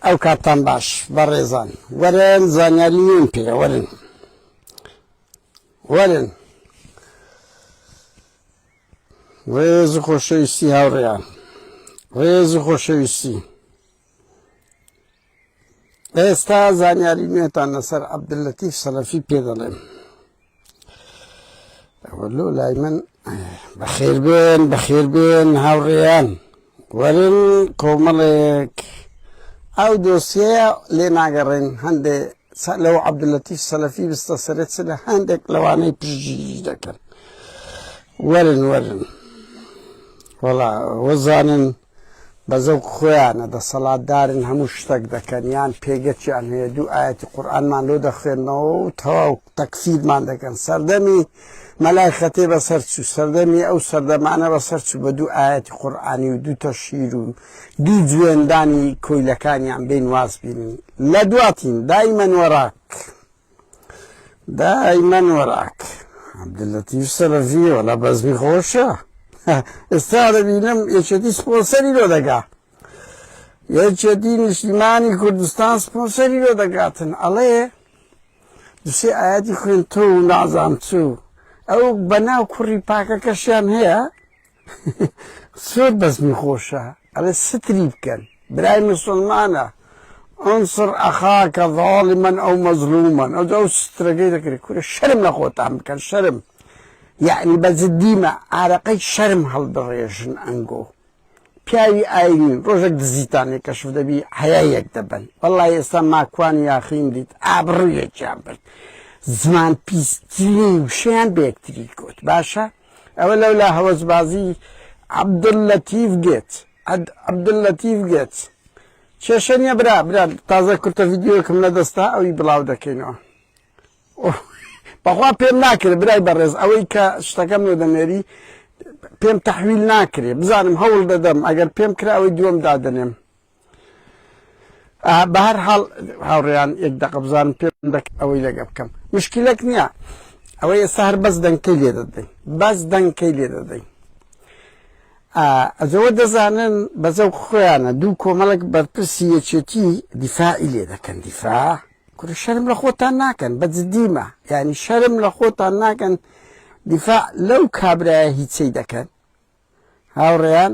ئەو کاتتان باش بەڕێزان وەرن زانیاری نوێم پێ وەرن وەرن ڕێز و خۆشەویستی هاوڕێیان ڕێز و خۆشەویستی ئێستا زانیاری نوێتان لەسەر عەبدولەتیف سەلەفی پێ دەڵێم ئەوە لۆ لای من بەخێر بێن بەخێر بێن هاوڕێیان وەرن کۆمەڵێک ئەو دۆسیەیە لێ ناگەڕێن هەندێ لەو عەبدولەتیف سەلەفی بستە سەرێت چ لە هەندێک لەوانەی پشتگیری دەکەن وەرن وەرن وەڵا وەزانن بەزەوق خۆیانە دەسەڵاتدارن هەموو شتەک دەکەن یان پێگەچیان هەیە دوو ئایەتی قورئانمان لۆ دەخوێنەوە و تەواو تەکفیرمان دەکەن سەردەمی مەلای خەتێ بەسەر چوو سەردەمی ئەو سەردەمانە بەسەر چوو بە دوو ئایەتی قورئانی و دوو تەشیر و دوو جوێندانی کۆیلەکانیان بین واز بینن لە دواتین دایمەن وەراک دائیمەن وەراک عەبدولەتیف سەلەفی وەلا بەزمی خۆشە ئێستا دەبینم یەکێتی سپۆنسەری لۆ دەگا یەکێتی نیشتیمانی کوردستان سپۆنسەری لۆ دەگاتن ئەڵێ دوسێ ئاەتی خوێن تۆ و نازان چوو ئەو بەناو کوڕی پاکەکەشیان هەیە سێ بەزمی خۆشە ئەڵێ ستری بکەن برای مسوڵمانە انصر اخاک ظالما او مظلوما ئەو ئەو سترەگەی دەکرێت کورە شەرم لە خۆتان بکەن شەرم یعنی بە جدیمە ئارەقەی شەرم هەڵبڕێژن ئەنگۆ پیاوی ئاینین ڕۆژێک دزیتانێک کەشف دەبی حەیەک دەبن بەڵی ئێستا ماکوان یاخین دیت ئابڕویەکیان برد زمان پیسترین وشیان بەکتری کوت باشە ئەوە لەولا هەوەسبازی عبداللطیف گێت عد عبداللطیف گێت کێشە نیە برا برا تازە کورتە ڤیدیۆکم لەدەستا ئەوی بڵاو دەکەینەوە بەخوا پێم ناکرێت برای بەڕێز ئەوەی کە شتەکەم لۆ دەنێری پێم تحویل ناکرێ بزانم هەوڵ دەدەم ئەگەر پێم کرا ئەوەی دووەم دادەنێم بەهەر حاڵ هاوڕێیان یەک دەقە بزانم پێ ئەوەی لەگە بکەم مشکلەک نییە ئەوەی ئێستا هەر بەس دەنکەی لێ دەدەین بەس دەنکەی لێ دەدەین ئەجەوە دەزانن بەزە و خۆیانە دوو کۆمەڵک بەرپرسی یەکێتی دیفاعی لێ دەکەن دیفا کورە شەرم لە خۆتان ناکەن بە جدیمە یعنی شەرم لە خۆتان ناکەن دیفاع لەو کابراە هیچەی دەکەن هاوڕێیان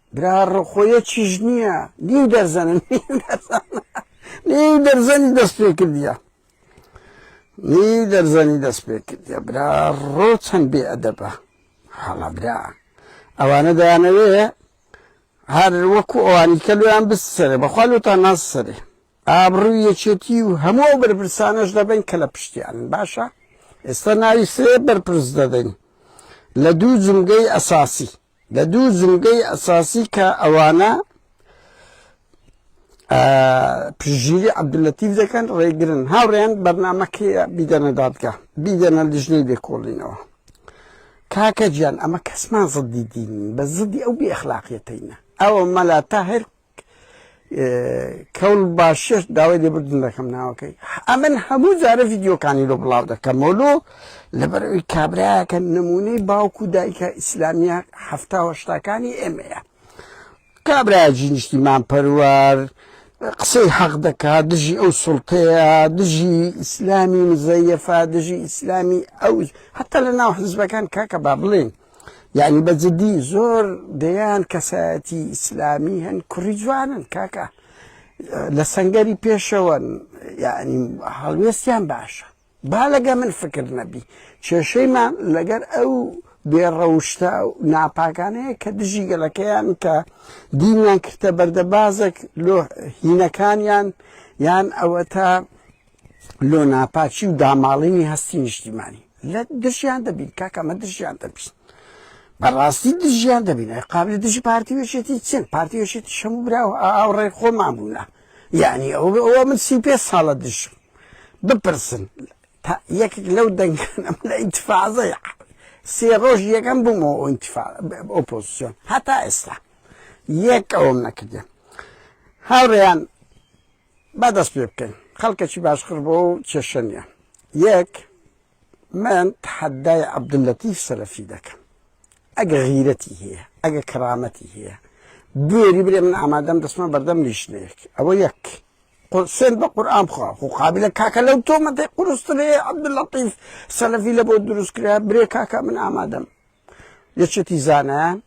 برا ڕقۆیە چیش نییە نیو دەرزەنە نیو دەرزەنی دەست پێ کردە نیو دەرزەنی دەست پێ کردە برا ڕۆ چەند بێ ئەدەبە حاڵە برا ئەوانە دەیانەوێ هەر وەکو ئەوانی کە لویان بسەرێ بەخوا لوتان ناسەرێ ئابڕوی یەکێتی و هەموو بەرپرسانەش دەبن کە لە پشتیان باشە ئێستا ناوی سێ بەرپرس دەدەین لە دوو جمگەی ئەساسی لە دوو زمگەی ئەساسی کە ئەوانە پشتگیری عەبدولەتیف دەکەن ڕێگرن هاوڕێیان بەرنمەکەی بیدەنە دادگا بیدەنە لیژنەی لێکۆڵینەوە کاکە گیان ئەمە کەسمان زدی دین بە زدی ئەو بێخلاقیەتەینە ئەوە مەلا تاهر کەون باشێش داوای لێبردن دەکەم ناوەکەی ئەمن هەموو جارە ڤیددیوکانی لۆ بڵاو دەکەمەوە لۆ لەبەرەوەی کابراەکە نمونەی باوکو و دایکە ئیسلامیە هەفتاوەشتاکانی ئێمەیە کابرا جینیشتیمان پەروار قسەی حەق دەکات دژی ئەو سڵتەیە دژی ئیسلامی مزەیەفا دژی ئیسلامی ئەو هەتا لە ناو حزبەکان کاکە با بڵێن یانی بە جدی زۆر دەیان کەسایەتی ئیسلامی هەن کوڕی جوانن کاکە لە سەنگەری پێشەوەن یعنی هەڵوێستیان باشە با لەگە من فکر نەبی کێشەیمان لەگەر ئەو بێڕەوشتە و ناپاکانەیە کە دژی گەلەکەیان کە دینیان کردە بەردەبازێک لۆ هینەکانیان یان ئەوە تا لۆ ناپاکی و داماڵینی هەستی نیشتیمانی لە دژیان دەبین کاکە ئەمە دژیان دەبین بەڕاستی دژیان دەبین ئەی قابلی دژی پارتی وێشێتی چێن پارتی وێشێتی شەمو برا و ئاوڕێ خۆمان بوونە یعنی ئەو ئەوە من سی پێ ساڵە دژم بپرسن یەکێک لەو دەنگانم لە ئینتفاازە سێ ڕۆژ یەکەم بوومەوە ئۆپۆزیسیۆن هەتا ئێستا یەک ئەوم نەکردێن هاوڕێیان با دەست پێ بکەین خەڵکەکی باشقر بۆ و کێشە نیە یەک من تحدای عبداللطیف سەلەفی دەکەم ئەگە غیرەتی هەیە ئەگە کەرامەتی هەیە بێری برێ من ئامادەم دەستمە بەردەم لیشنەیەک ئەوە یەک سێن بە قورآان بخوا خو قابلە کاکە لەو تۆمەتی قرسترێ عبداللطیف سەلەفی لە بۆ دروستکرا برێ کاکە من ئامادەم یەکێتی زانایان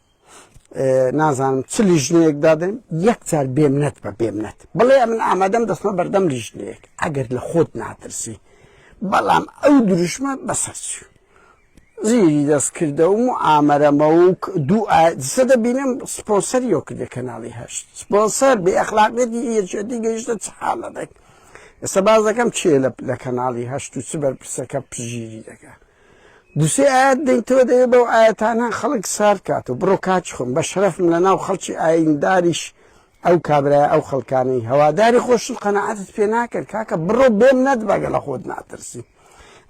نازانم چ لیژنەیەک دادەن یەکجار بێمنەت بە بێمنەت بڵێ من ئامادەم دەستمە بەردەم لیژنەیەک ئەگەر لە خۆت ناترسی بەڵام ئەو دروشمە بەسەرچی زیری دەستکردەوم و ئامەرەمە و دوو ئازە دەبینم سپۆسەر یۆکردێ کەناڵی هەشت سپۆسەر بێ ئەخلاقێتی یەکێتی گەیشتە چ حاڵە دەک ئێستا باز دەکەم چێ لە کەناڵی هەشت و چ بەرپرسەکە پژیری دەکە دوسێ ئایەت دەیتەوە دەبێ بەو ئایەتانە خەڵک سارد کاتەوە بڕۆ کاچ خۆم بە شەرەفم لە ناو خەڵکی ئاینداریش ئەو کابرایە ئەو خەڵکانەی هەواداری خۆشن قەناعەتت پێ ناکەن کاکە بڕۆ بێم نەدبەگە لە خۆت ناترسی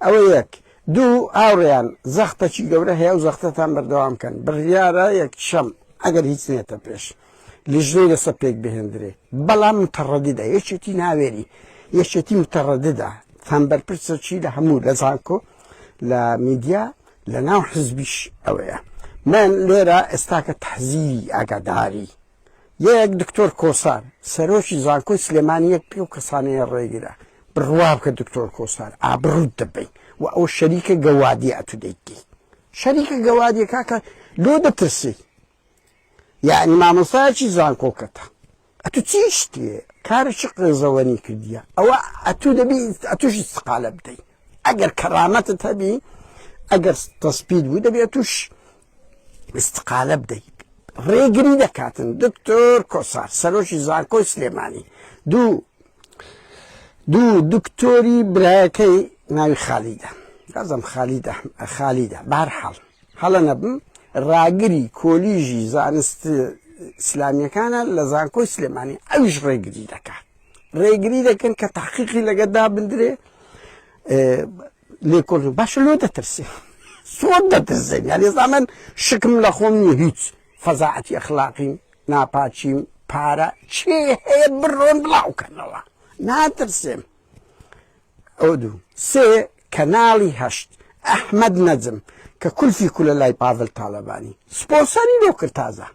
ئەوە یەک دوو هاوڕێیان زەختەکی گەورە هەیە و زەختەتان بەردەوام کەن بڕیارە یەک شەم ئەگەر هیچ نێتە پێش. لیژنەی لەسەر پێک بهێندرێ بەڵام متەڕەددە یەکێتی ناوێری یەکێتی متەڕەددە تام بەرپرسە چی لە هەموو لە زانکۆ لە میدیا لە ناو حزبیش ئەوەیە من لێرە ئێستاکە تەحزیری ئاگاداری یەک دکتۆر کۆسار سەرۆکی زانکۆی سلێمانی یەک پێ و کەسانەیە ڕێگرە بڕوا بکە دکتۆر کۆسار ئابڕوت دەبین و ئەو شەریکە گەوادی ئەتو دەیتی شەریکە گەوادیەکە کە لۆ دەترسی یەعنی مامۆستایەکی زانکۆکەتە ئەتوو چی شتێ کارە چ قێزەوەنی کردیە ئەوە ئەتوو دەبی ئەتوش استقالە بدەی ئەگەر کەرامەتت هەبی ئەگەر تەسپید بوو دەبی ئەتوش استقالە بدەیت ڕێگری دەکاتن دکتۆر کۆسار سەرۆکی زانکۆی سلێمانی دوو دوو دکتۆری برایەکەی ناوی خالیدە لازم خالد خالدە بارحاڵ هەڵە نەبم ڕاگری کۆلیژی زانست ئیسلامیەکانە لە زانکۆی سلێمانی ئەویش ڕێگری دەکات ڕێگری دەکەن کە تاقیقی لەگە دابدرێ لێکۆل باشە لۆ دەترسێ سۆر دەترسێن یعنی زامن شکم لە خۆم نیە هیچ فەزاعەتی ئەخلاقیم ناپاچیم پارە چێ هەیە بڕۆن بڵاوکەنەوە ناترسێم ئەو دوو سێ کەناڵی هەشت ئەحمەد نەجم کە کولفی کولە لای پاڤل تالەبانی سپۆسەری لۆ کرد تازە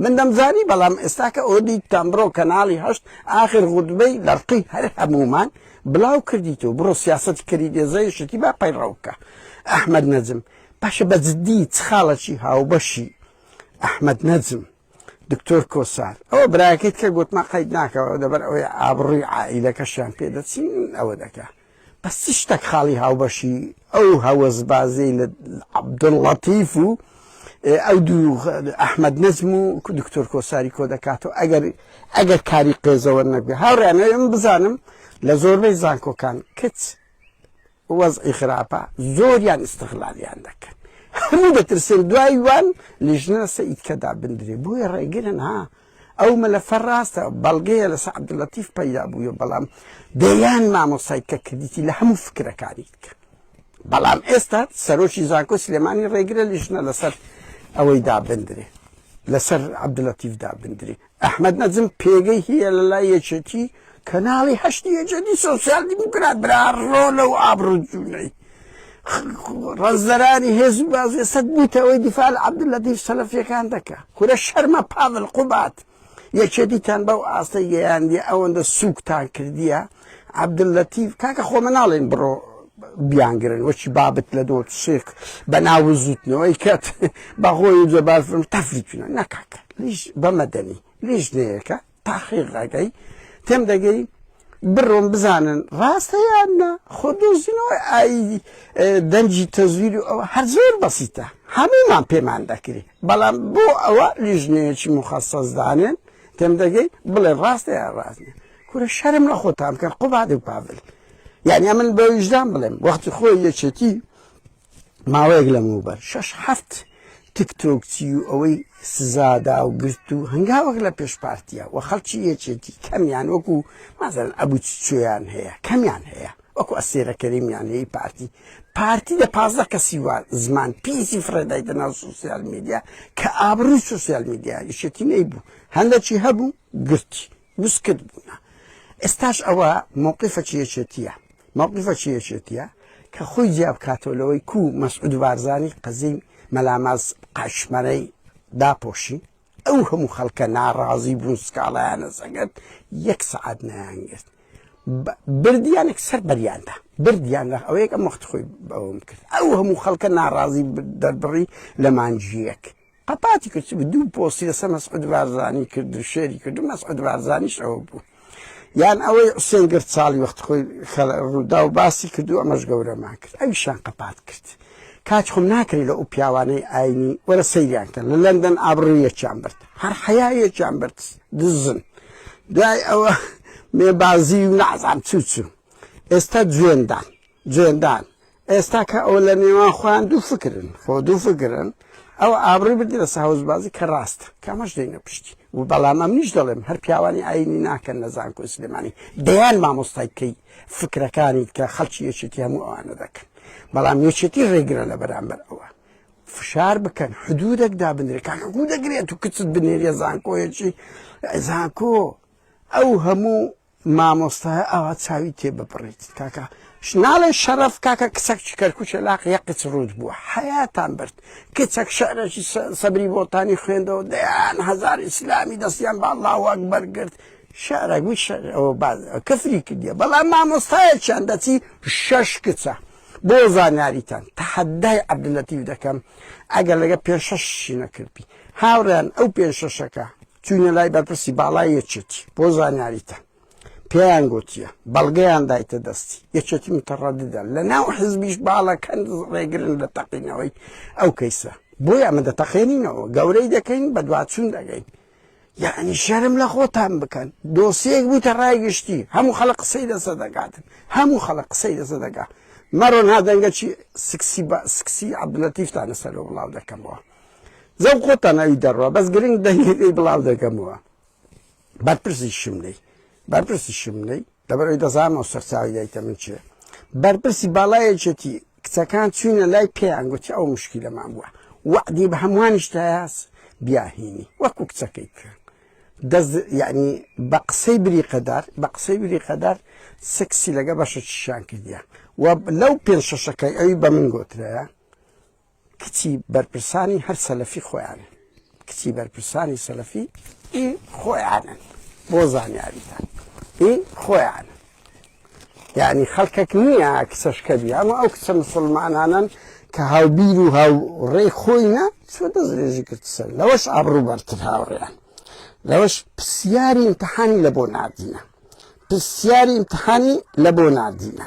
من دەمزانی بەڵام ئێستا کە ئەوە دیتتان بڕۆ کەناڵی هەشت ئاخر غوتبەی لەڕقی هەر هەموومان بڵاو کردیت و بڕۆ سیاسەتی کەری دێزەی شتی با پەیڕەو بکە ئەحمەد نەجم باشە بە جدی چ خاڵەکی هاوبەشی ئەحمەد نەجم دکتۆر کۆسار ئەوە برایەکەیت کە گوتما قەید ناکەەوە دەبەر ئەوەی ئابڕووی عائیلەکەشیان پێدەچین ئەوە دەکە بەس چ شتێک خاڵی هاوبەشی ئەو هەوەز بازی لە عبدڵەتیف و ئەو دوو ئەحمد نەزم و دکتۆر کۆساری کۆ دەکاتەوە ئەگەر ئەگەر کاری قێزەوە نەبێ هاوڕیانەوەم بزانم لە زۆربەی زانکۆکان کچ وەزعی خراپە زۆریان استغلالیان دەکەن هەموو دەترسن دوای وان لیژنە سە ئیتکە دابندرێ بۆیە ڕێگرن ها ئەو مەلەفە ڕاستە بەڵگەیە لەسە عبدلەتیف پەیدا بووە بەڵام دەیان مامۆسای کە کردیتی لە هەموو فکرەکانی کە بەڵام ئێستا سەرۆکی زانکۆ سلێمانی ڕێگرە لیژنە لەسەر ئەوەی دابندرێ لەسەر عبدلەتیف دابندرێ ئەحمەد نەجم پێگەی هیە لە لای یەکێتی کەناڵی هەشتی یەکێتی سۆسیال دیموکرات برا ڕۆلە و ئابڕوو جوونەی ڕەزدەرانی هێز و بازێسەت بووتەوەی دیفاع لە عەبدوللەتیف سەلەفیەکان دەکا کورە شەرمە پاڤل قوبات یەکێتیتان بەو ئاستەی گەیاندیە ئەوەندە سووکتان کردیە عبداللطیف کاکە خۆ من ناڵێن بڕۆ بیانگرن وەچی بابت لە دۆ شێخ بە ناو زوتنەوەی کەت بەخۆی جەباز تەفریچونە نەکاکە لیش بەمەدەنی لیش نەیەکە تاخیقەکەی تێم دەگەی بڕۆم بزانن ڕاستە یان نە خۆ دۆزینەوەی ئای دەنجی تەزویر و ئەوە هەر زۆر بەسیتە هەمومان پێمان دەکری بەڵام بۆ ئەوە لیژنەیەکی مخصص دانێن تێم دەگەی بڵێ ڕاستە یا ڕاستە کورە شەرم لە خۆتان بکەن قوبادی و پاڤل یعنی ئەمن بە ویژدان بڵێم وەختی خۆی یەکێتی ماوەیەک لەمەوبەر شش هەفت تکتۆکچی و ئەوەی سزادا و گرت و هەنگاوەک لە پێش پارتیە و خەڵکی یەکێتی کەمیان وەکو مازن ئەبوو چۆیان هەیە کەمیان هەیە وەکو ئەسێرەکەریمیان هەیە پارتی پارتی لە پازدە کەسی وار زمان پیسی فرێدای دە ناو سوسیال میدیا کە ئابرووی سوسیال میدیا یشێتی نەی بوو هەندەکی هەبوو گرتی وسکت بوونە ئێستاش ئەوە مەوقیفەکی یەکێتیە مەوقیفەکی یەکێتیە کە خۆی جیا بکاتەوە لەوەی کو مەسعود بارزانی قەزی مەلاماز قاشمەرەی داپۆشی ئەو هەموو خەڵکە ناڕازی بوون سکاڵایانە سەگەت یەک سعات نایانگرت بردیانێک سەر بەریاندا بردیان لە ئەوەیەک ئەم وەخت خۆی بەوەم کرد ئەو هەموو خەڵکە ناڕازی دەربڕی لە مانجیەک قەپاتی کچ بوو دوو پۆستی لەسەر مەسعود بارزانی کرد و شێری کرد و مەسعود بارزانیش ئەوە بوو یان ئەوەی حسێن گرت ساڵی وەخت خۆی ڕوودا و باسی کرد و ئەمەش گەورەمان کرد ئەویشان قەپات کرد کاچ خۆم ناکرێت لە ئەو پیاوانەی ئاینی وەرە سەیریان کە لە لەندەن ئابڕویەکیان برد هەر حەیەکیان برد دزن دوای ئەوە مێبازی و نازان چوچوو ئێستا جوێندان جێندان، ئێستا کە ئەوە لە نێوان خۆیان دوو فکرن، خۆ دوو فکرن، ئەو ئابڕووی بردی لە سەهۆزبازی کە ڕاستە، کە ئەمەش دێنە پشتی و بەڵام ئەمنیش دەڵێم هەر پیاوانی ئایینی ناکەن لە زانکۆی سلێمانی، دەیان مامۆستای کەی فکرەکانیت کە خەڵکی یەکێتی هەموو ئەوانە دەکەن، بەڵام یەکێتی ڕێگرە لە بەرامبەر ئەوە. فشار بکەن، حدوودێک دابنرێت، کاکە گوو دەگرێت و کچت بنێریە زانکۆیەکی زانکۆ، ئەو هەموو مامۆستایە ئاوا چاوی تێ ببڕیت کاکە ناڵێ شەرەف کاکە کچەک چ کەرکوچە لاق یەقچ ڕووت بووە حەیاتان برد کچەک شعرێکی سەبری بۆتانی خوێندەوە دەیان هزار ئیسلامی دەستیان با لاوەک بەرگرت شعرەک وی شعرەوە باز کەفری کردیە بەڵام مامۆستایەکیان دەچی شەش کچە بۆ زانیاریتان تەحەدای عەبدلەتیف دەکەم ئەگەر لەگە پێ شەش شی نەکردبی هاوڕێیان ئەو پێشەشەکە چووینە لای بەرپرسی باڵای یەکێتی بۆ زانیاریتان پێیان گوتیە بەڵگەیان دایتە دەستی یەکێتی متەڕەددە لە ناو حزبیش باڵەکەن ڕێگرن لە تەقینەوەی ئەو کەیسە بۆی ئەمە دەتەقێنینەوە گەورەی دەکەین بە دواچوون دەگەین یعنی شەرم لە خۆتان بکەن دۆسیەک بووتە ڕای گشتی هەموو خەڵە قسەی لەسە دەگاتن هەموو خەڵە قسەی لەسە دەگات مەڕۆن هادەنگەچی سکسی بە سکسی عبدلەتیفتانە سەرۆ بڵاو دەکەمەوە زەو خۆتان ئەوی دەڕوا بەس گرنگ دەنگەکەی بڵاو دەکەمەوە بەرپرسی شمنەی بەرپرسی شمنەی لەبەرەوەی دەزانەوە سەرچاوی دایکە من چێ بەرپرسی باڵایەکێتی کچەکان چوینە لای پێیان گوتی ئەو مشکیلەمان بووە وەعدی بە هەمووانیش تاس بیاهینی وەکو کچەکەی کرد دەست یعنی بە قسەی بری قەدار بە قسەی بری قەدار سکسی لەگە بەشە چیشان کردیە و لەو پێ شەشەکەی ئەوی بە من گۆترەیە کچی بەرپرسانی هەر سەلەفی خۆیانن کچی بەرپرسانی سەلەفی ئی خۆیانن بۆ زانیاریتان ئی خۆیانن یعنی خەڵکەک نییە کچەشکە بی ئەمە ئەو کچە مسلمانانن کە هاوبیر و هاوڕێی خۆینە چۆ دەستێژی کرد سەر لەوەش ئابڕوو بەرتر هاوڕێیان لەوەش پرسیاری امتحانی لە بۆ ناردینە پرسیاری امتحانی لە بۆ ناردینە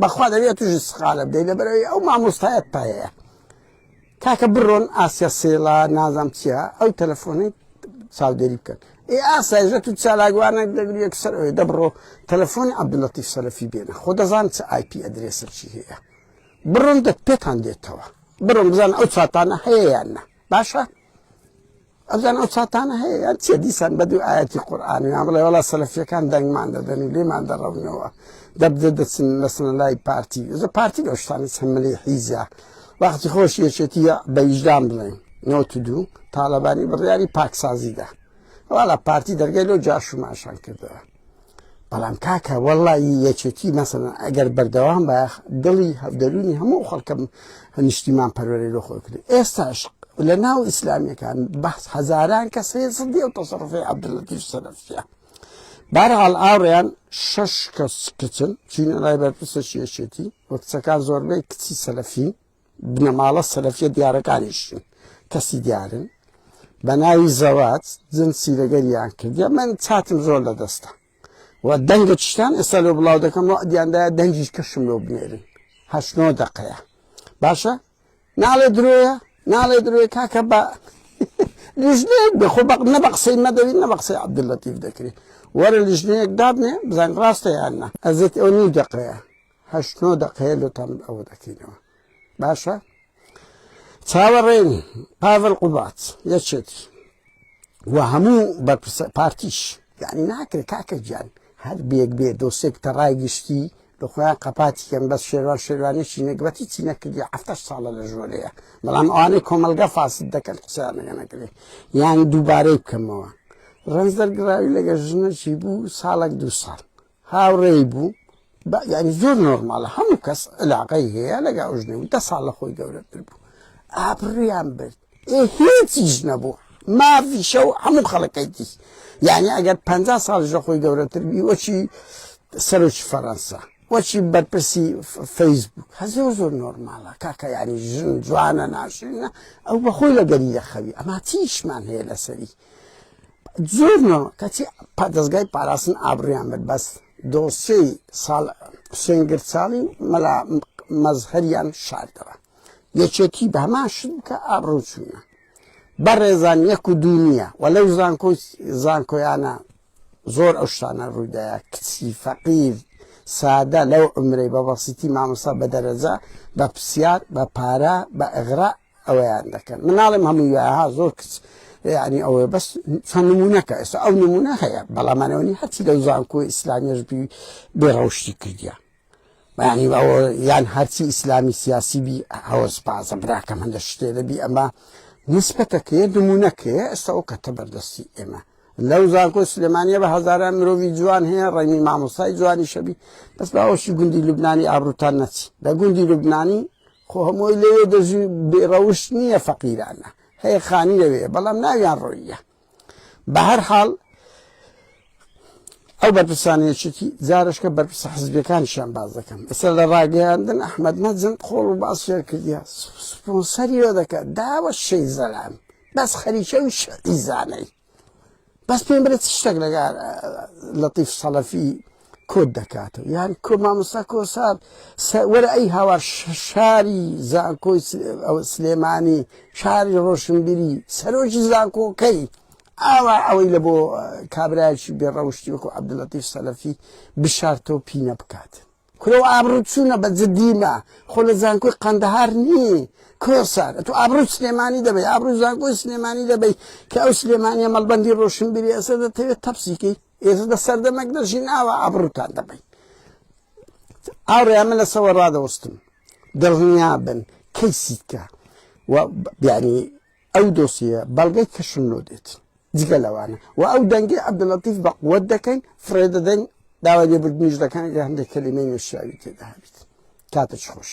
بەخوا دەبێت توژی سقالە بدەی لەبەرەوەی ئەو مامۆستایەت پایەیە کاکە بڕۆن ئاسیا سێڵا نازام چیە ئەو تەلەفۆنی چاودێری بکەن ئێ ئاسایژە تو چالاگوانە دەگری یەکسەر ئەوێ دەبڕۆ تەلەفۆنی عبدڵەتی سەلەفی بێنە خۆ دەزان چ آیP ئەدرێسە چی هەیە بڕۆن دەت پێتان دێتەوە بڕۆن بزان ئەو چاتانە هەیەیان نە باشە ئەزان ئەو چاتانە هەیە یان چیە دیسان بە دوو ئاەتی قورآان یان بڵێ وڵا سەلفیەکان دەنگمان دەدەنی لێمان دەڕەونەوە دەبدە دەچن لەسن لای پارتی زە پارتی لە شتانی هەملی حیزە وەختی خۆش یەکێتی بە ویژدان بڵێن نۆت دوو تاالبانی بڕیاری پاکسازیدا وڵا پارتی دەرگەی لەو جاشوماشان کردەوە بەڵام کاکە وەڵی یەکێتی مەسەن ئەگەر بەردەوام بە دڵی هەفدەرونی هەموو خەڵکەم نیشتیمان پەروەری لۆ خۆی کرد ئێستاش لە ناو ئیسلامیەکان بەس هەزاران کەس هەیە سندی و تەسەڕفی عبدلەتیش سەرفە بارحال ئاڕیان شش کەس کچن چینە لای بەرپرسە شێشێتی وە کچەکان زۆربەی کچی سەلەفین بنەماڵە سەلەفیە دیارەکانیش کەسی دیارن بە ناوی زەوات جن سیرەگەریان کردیە من چاتم زۆر لە دەستە و دەنگە چشتان ئێستا لۆ بڵاو دەکەم و دیاندایە دەنگیش کەشم لۆ بنێرن هەشتۆ دقەیە باشە ناڵێ درۆیە ناڵێ درۆێ کاکە بە لیژنەیەک بخۆ نە بە قسەی مەدەوی نە بە قسەی عبدللەتیف دەکرێت وەرە لیژنەیەک دابنێ بزان ڕاستە یاننا ئەزێت ئەو نیو دەقەیە هەشت نۆ دەقەیە لۆتان ئەوە دەکەینەوە باشە چاوەڕێن پاڤل قوبات یەکێتی و هەموو بەرپرسە پارتیش یعنی ناکرێت کاکە گیان هەر بێک بێ دۆسێک تەڕای گشتی لە خۆیان قەپاتی کەم بەس شێوان شێوانێکی نەگبەتی چی نەکردی هەفتش ساڵە لە ژۆرەیە بەڵام ئەوانەی کۆمەلگە فاسد دەکەن قسەیانەکە نەکرێت یان دووبارەی بکەمەوە ڕنج دەرگراوی لەگە ژنەشی بوو ساڵک دو ساڵ هاوڕێی بوو بە یاری زۆر نۆرماڵە هەموو کەس علاقەی هەیە لەگە ئەوژنێ و دە ساڵ لە خۆی گەورەتر بوو ئابڕیان برد ئێ هیچیش نەبوو ماڤی شەو هەموو خەڵەکەی دیش یعنی ئەگەر پ ساڵش لە خۆی گەورەتر بی وەچی سەرۆکی فەڕەنسا وەچی بەرپرسی فەیسبوک هە زۆر زۆر نۆرمالە کاکە ینی ژن جوانە ناشرینە ئەو بەخۆی لە گەری دەخەوی ئەما چیشمان هەیە لەسەری زۆر نۆ کەچی پادەستگای پاراستن ئابڕیان بێت بەس دۆسیەی ساڵ سێنگر چاڵی و مەلا مەزهریان شاردەوە یەکێتی بە هەمان شت کە ئابڕوچوونە بەڕێزان یەک و دوو نییە و لەو زانکۆ زانکۆیانە زۆر ئەو شتانە ڕووداە کچی فەقیر سادە لەو عمرەی بە بەسیتی مامۆسا بە دەرەجە بە پرسیار بە پارە بە ئەغرا ئەوەیان دەکەن من ناڵێم هەمووی وایە زۆر کچ یعنی ئەوە بەس چەند نمونونەکە ئێستا ئەو نمونە هەیە بەڵامانەوەنی هەرچی لەو زانکۆ ئیسلامیش بی بێڕەوشتی کردیا بەیانی ئەوە یان هەرچی ئیسلامی سیاسی بی هەوەز پازە براکەم هەندە شتێ دەبی ئەمە نسبەتەکەێ نمونونەکەێ ئێستا ئەو کەتە بەردەستی ئێمە لەو زانکۆ سلێمانە بە هزاران مرۆڤی جوان هەیە ڕێنی مامۆستای جوانی شەبی بەس باوەشی گوندی لوبنانی ئابروتان نەچی لە گوندی لوبنانی خۆ هەمووی لەوێ دەژی و بێ ڕەوشت نییە فەقیرانە هەیە خانی لەوێیە بەڵام ناویان ڕۆییە بەهەر حاڵ ئەو بەرپرسانی یەکێتی جارشکە بەرپرسە حزبیەکانشیان باز دەکەم ئێستا لە ڕاگەیاندن ئەحمد نەجم قۆڵ و باس فێر کردیا سپۆنسەری وە دەکات داوە شەی زەلام بەس خەریکە و شەعیزانەی بەس پێم برێت شتێک لەگار لەتیف سەڵەفی کۆت دەکاتەوە یان کۆ مامۆستا کۆسار وەرە ئەی هاوار شاری زانکۆی سلێمانی شاری ڕۆشنبیری سەرۆکی زانکۆکەی ئاوا ئەوەی لە بۆ کابراایکی بێڕەوشتی وەکو عبدلەتیف سەلەفی بشارتەوە پینە بکات کورە و ئابڕوت چونە بە جدی مە خۆ لە زانکۆی قەندەهار نی کۆسەر ئەتو ئابڕوی سلێمانی دەبەی ئابڕوی زانکۆی سلێمانی دەبەی کە ئەو سلێمانیە مەڵبەندی ڕۆشنبیری ئەسە دەتەوێت تەپسیکەی ئێزە دە سەردەمەک دەژین ئاوا ئابڕوتان دەبەی ئاڕێ من لە سەوە ڕادەوەستم دڵنیا بن کەی سیتکە و بیانی ئەو دۆسیەیە بەڵگەی کەشن لۆ دێت جگە لەوانە و ئەو دەنگی عەبدولەتیف بە قوت دەکەین فڕێ دەدەین داوای لێبوردنیش دەکەن گە هەندێک کەلیمەی نەشیاوی تێدا هەبیت کاتە خۆش.